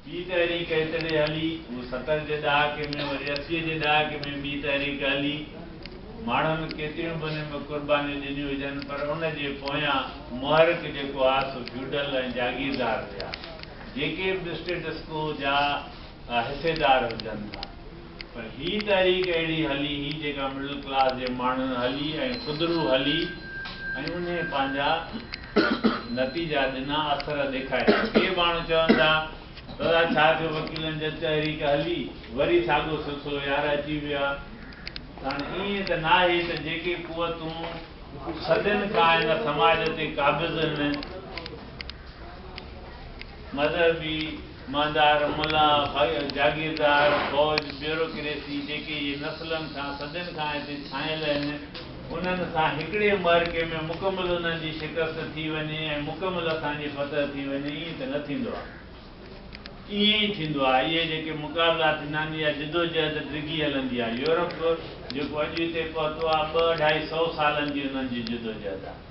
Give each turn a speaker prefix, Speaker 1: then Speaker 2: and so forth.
Speaker 1: ٻي تحريڪ ايتري هلي، هو ستر جي ڏهاڪي ۾ وري اسيء جي ڏهاڪي ۾ ٻي تحريڪ هلي، ماڻهن ڪيتريون به ان ۾ قربانيون ڏنيون هجن پر ان جي پويان محرڪ جيڪو ها سو فيوڊل ۽ جاگيردار هيا جيڪي به اسٽيٽس ڪو جا حصيدار هجن ٿا. پر هي تحريڪ اهڙي هلي هئي جيڪا مڊل ڪلاس جي ماڻهن هلي ۽ خودرو هلي ۽ انهي پنهنجا نتيجا ڏنا اثر ڏيکاريا. ڪي ماڻهو چون ٿا دادا ڇا ٿيو وڪيلن جي تحريڪ هلي وري ساڳو سلسلو يار اچي ويو آ ته هاڻ ائين ته ناهي ته جيڪي قوتون صدين کان هن سماج تي قابض هن مذهبي مالدار، ملا، جاگيردار، فوج، بيوروڪريسي جيڪي اهي نسلن کان صدين کان هتي ڇانيل آهن، انهن سان هڪڙي معرڪي ۾ مڪمل انهن جي شڪست ٿي وڃي ۽ مڪمل اسان جي فتح ٿي وڃي ائين ته نه ٿيندو آهي. ائين ئي ٿيندو آهي. اهي جيڪي مقابلا ٿيندا آهن اها جدوجهد ڊگهي هلندي آهي. يورپ جيڪو اڄ هتي پهتو آهي ٻه اڍائي سئو سالن جي انهن جي جدوجهد آهي.